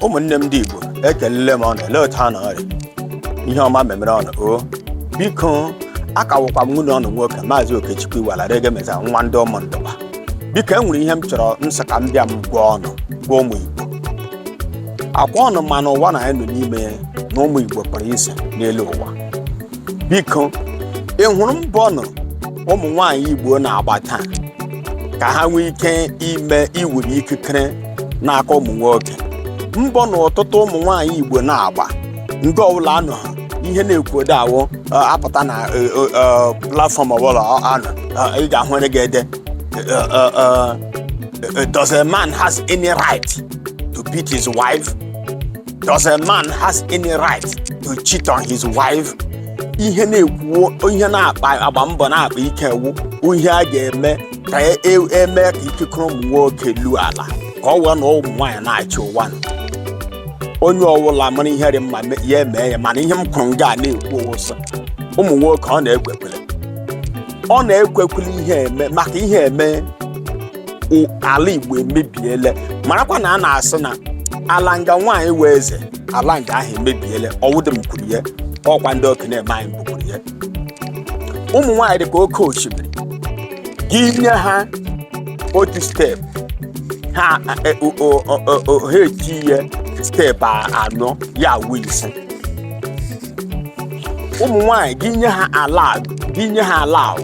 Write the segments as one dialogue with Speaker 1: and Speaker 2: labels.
Speaker 1: ụmụnne m ndị igbo ekelele m ụnụ elee otu ụnụ rị ihe ọma memere ụnụ o biko aka wụkwa m nwanne ụnụ nwoke maazị okechukwu iwala regemeza nwa ndị ụmụ ndụba biko e nwere ihe m chọrọ m sị ka m bịa m gwa ụnụ gwa ụmụ igbo ọkwa ụnụ ma n'ụwa nụ anyị nọ n'ime na ụmụ igbo pụrụ iche n'elu ụwa biko ị hụrụ mbọ nụ ụmụ nwaanyị igbo na-agba taa ka ha nwee ike ime iwere ikikere n'aka ụmụ nwoke mbọ nụ ọtụtụ ụmụ nwaanyị igbo na-agba nga ọbụla a nọ ha ihe na-ekwude awụ ọ, apụta na ọ, ọ, ọ, platfọm ọbụla ọ anọ ọ, ị ga-ahụ onye ga-ede ọ, ọ, ọ, does a man has any right to beat his wife Does a man has any right to cheat on his wife? Ihe na-ekwu ihe na-akpa agba mbọ na-akpa ike wụ ihe a ga-eme ka e- e- eme ka ikikere ụmụ nwoke luo ala ka ọ wee na ụmụ nwaanyị na-achị ụwa nụ. onye ọbụla mara ihe dị mma me- ya emee ya mana ihe m kwuru nga a na-ekwu wụ sị ụmụ nwoke ụnụ ekwekwele ụnụ ekwekwele ihe eme maka ihe eme i- ala igbo emebiele marakwa na a na-asị na ala nga nwaanyị wụ eze ala nga ahụ emebiele ọ wụdị m kwuru ya ọkwa ndị okenye eme anyị mbụ kwuru ya ụmụ nwaanyị dị ka oke osimiri gị nye ha otu steepụ ha e- o- o- o- o- o- ha etiye steepụ a- anọ ya awụ ise ụmụ nwaanyị gị nye ha ala gị nye ha ala ahụ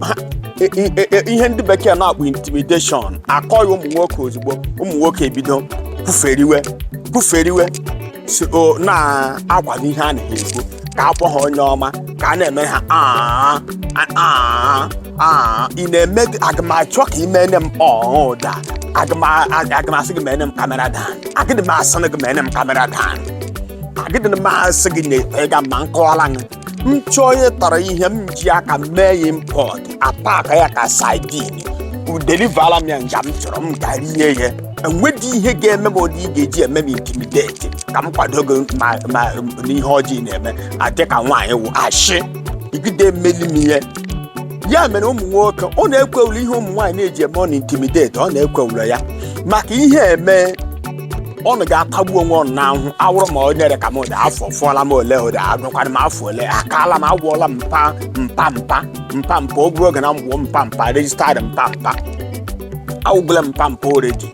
Speaker 1: ha- i- i- i- ihe ndị bekee na-akpọ intimidation akọghị ụmụ nwoke ozugbo ụmụ nwoke ebido kwuferiwe kwuferiwe si o na-akwado ihe a na-ekwu ka a kpọọ ha onye ọma ka a na-eme ha "Ah, ah, ah, ah." ị na-eme aga m achọ ka ị mene m ọọ ụda aga m a- aga m asị gị mene m kamera dan agịdị m asị gị mene m kamera dan agịdị m asị gị na ịga ma nkọwara gị m chọọ onye tọrọ ihe m ji aka mee ya impọt apaka ya ka saidin delivala m ya nga m chọrọ m ga rie ya enwedị ihe ga-eme m ụdị ị ga-eji eme m intimideti ka m kwado gị ma ma n'ihe ọjọọ ị na-eme adị ka nwaanyị wụ ashị ị gịdị emeli m ihe ya mere ụmụ nwoke ụnụ ekwewula ihe ụmụ nwaanyị na-eji eme ụnụ intimideti ụnụ ekwewula ya maka ihe eme ọnụ ga-atagbu onwe ọnụ n'ahụ ọ wụrụ ma onye rị ka m dị afọ fụọla m ole ụdị agụkwara m afọ ole akaala m awụọla m papa o buru oge na m bụ papa registered papa awụgole m papa already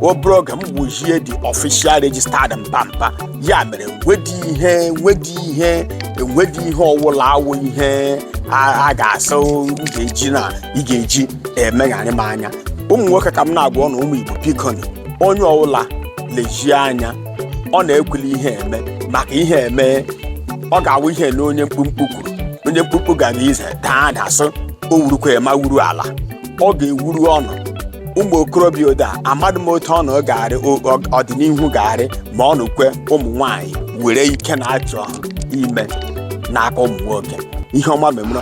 Speaker 1: o buru oge m bụjie the official registered papa ya mere nwedi ihe nwedi ihe enwedi ihe ọwụla awụ ihe a a ga-asị m ga-eji na ị ga-eji emegharị m anya ụmụ nwoke ka m na-agwa ọnụ ụmụ igbo bikoni onye ọwụla lejie anya ọ na-ekwuli ihe eme maka ihe eme ọ ga-awụ ihe na onye mkpụmkpụ kwuru onye mkpụmkpụ gara ije daa ada sị o wurukwa ma wuru ala ọ ga-ewuru ọnụ ụmụ okorobịa oda amadụ m otu ọnụ ga-arị o- ọ- ọdịnihu ga-arị ma ọnụ kwe ụmụ nwanyị were ike na-achọ ime n'aka ụmụ nwoke ihe ọma memere